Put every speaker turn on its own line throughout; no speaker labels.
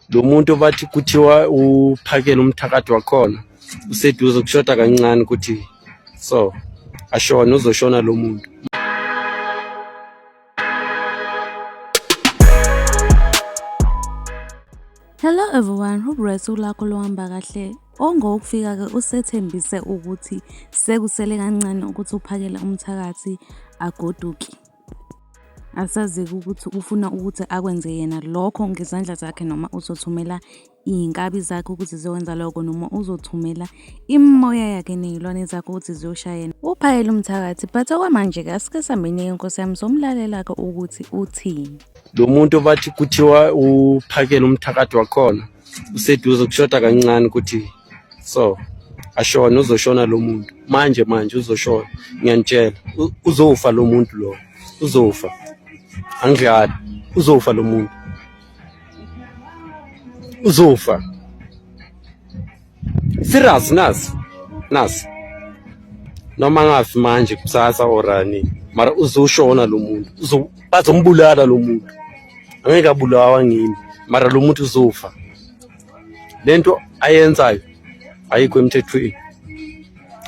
lo muntu bathi kuthiwa uphakele umthakathi wakhona useduze kushoda kancane ukuthi so ashona uzoshona lo muntu
Hello everyone, hope usuku lakho lohamba kahle. Ongowokufika-ke usethembise ukuthi sekusele kancane ukuthi uphakele umthakathi agoduke. Asazi-ke ukuthi ufuna ukuthi akwenze yena lokho ngezandla zakhe noma uzothumela iy'nkabi zakhe ukuthi ziyokwenza lokho noma uzothumela imimoya yakhe ney'lwane zakhe ukuthi ziyoshaya yena. Uphayela umthakathi but okwamanje-ke asike sihambeni-ke nkosi yami somlalela-ke ukuthi uthini. Lo muntu
bathi kuthiwa uphakela umthakathi wakhona useduze kushoda kancane ukuthi so ashona uzoshona lo muntu manje manje uzoshona ngiyanitshela uzofa lo muntu lo uzofa angidlali uzofa lo muntu uzofa serious nasi nasi noma ngafi manje kusasa orani mara uzoshona lo muntu bazombulala lo muntu angeke abulawa ngimi mara lo muntu uzofa le nto ayenzayo ayikho emthethweni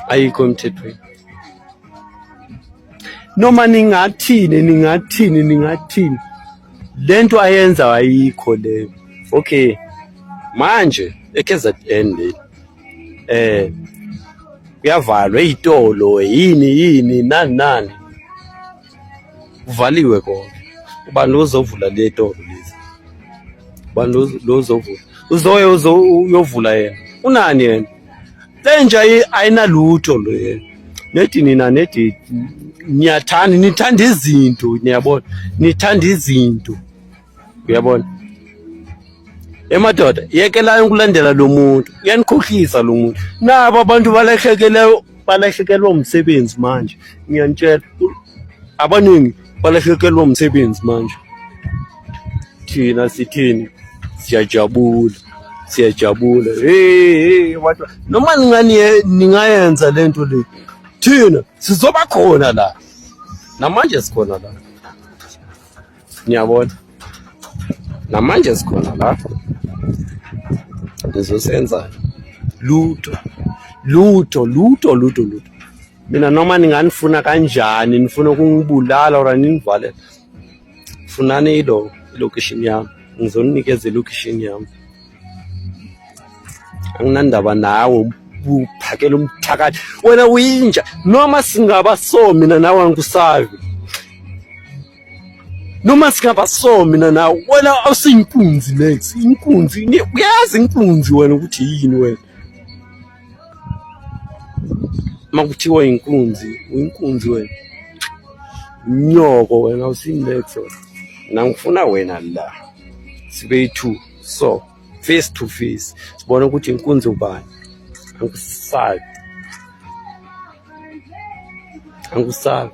ayikho emthethweni noma ningathini ningathini ningathini le nto ayenzayo ayikho leyo okay manje eKZN le eh kuyavalwa izitolo yini yini nani nani kuvaliwe konke ubani ozovula le toro lezi ubani lo uzovula uzoye uyovula yena unani yena lenja ayinalutho lo yena nedi nina nedi niyathanda nithanda izinto niyabona nithanda izinto uyabona emadoda yekelayo ukulandela lo muntu uyanikhohlisa lo muntu nabo abantu balahlekeleyo balahlekelwa umsebenzi manje ngiyanitshela abaningi balahlekelwa umsebenzi manje thina sithini siyajabula siyajabula hey watu noma ningani ningayenza lento le thina sizoba khona la namanje sikhona la niyabona namanje sikhona la nizosenza lutho lutho lutho lutho lutho mina noma ninganifuna kanjani nifuna ukungibulala or ninivalela funani ilo ilocation yami ngizoninikeza ilocation yami anginandaba nawe uphakela umthakathi wena uyinja noma singaba so mina nawe angikusabi noma singaba so mina nawe wena awusiyinkunzi next inkunzi uyazi inkunzi wena ukuthi yini wena makuthiwa inkunzi uyinkunzi wena nyoko wena usinext wena nangifuna wena la sibe yi-two so face to face sibone ukuthi inkunzi ubani angisabi angisabi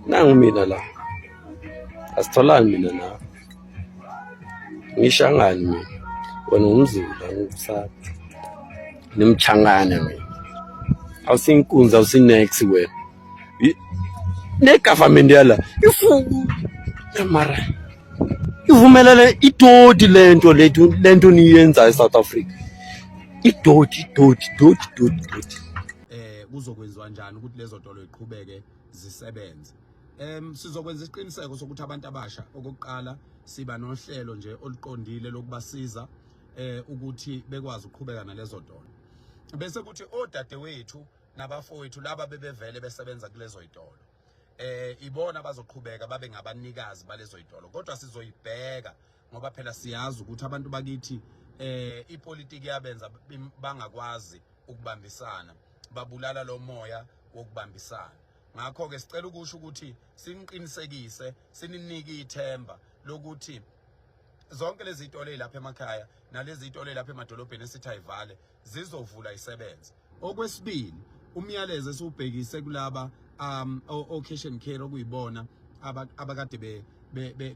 nangu mina la asitholani mina nawe ngishangani mina wena ngumzulu angisabi nimchangane mina awusinkunzi awusinex wena negovernment yala ifu mara ivumelele itoti lento lento niyenza eSouth Africa idoti idoti idoti idoti idoti
eh kuzokwenziwa kanjani ukuthi lezo tolo iqhubeke zisebenze em sizokwenza isiqiniseko sokuthi abantu abasha okokuqala siba nohlelo nje oluqondile lokubasiza eh ukuthi bekwazi ukuqhubeka nalezo tolo bese kuthi odadewethu nabafowethu laba bebevele besebenza kulezo itolo eh ibona bazoqhubeka babe ngabanikazi balezo itolo kodwa sizoyibheka ngoba phela siyazi ukuthi abantu bakithi eh ipolitiki yabenza bangakwazi ukubambisana babulala lo moya wokubambisana ngakho ke sicela ukusho ukuthi siniqinisekise sininike ithemba lokuthi zonke lezi zitolo ezilapha emakhaya nalezi zitolo ezilapha emadolobheni esithi ayivale zizovula isebenze okwesibili umyalezo esiwubhekise kulaba um occasion care okuyibona abakade be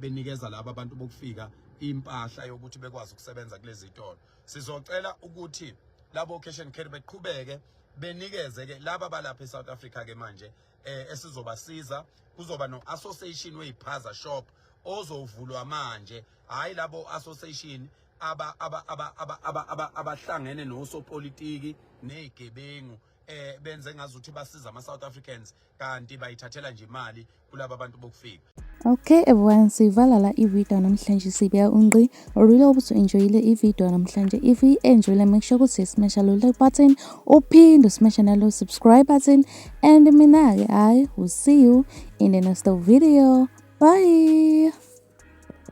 benikeza laba abantu bokufika impahla yokuthi bekwazi ukusebenza kulezi zitolo sizocela ukuthi labo occasion care beqhubeke benikeze ke laba balapha eSouth Africa ke manje eh esizobasiza kuzoba no association weyiphaza shop ozovulwa manje hayi labo association aba aba aba aba aba abahlangene nosopolitiki nezigebengu eh benze ngazuthi basiza ama South Africans kanti bayithathela nje imali kulabo abantu bokufika Okay everyone
sivala la i-video namhlanje sibeka unqi orile ukuthi enjoyile i-video namhlanje if i-enjoyile make sure ukuthi smasha lo like button uphinde usmasha nalo subscribe button and mina-ke hayi will see you in the next video bye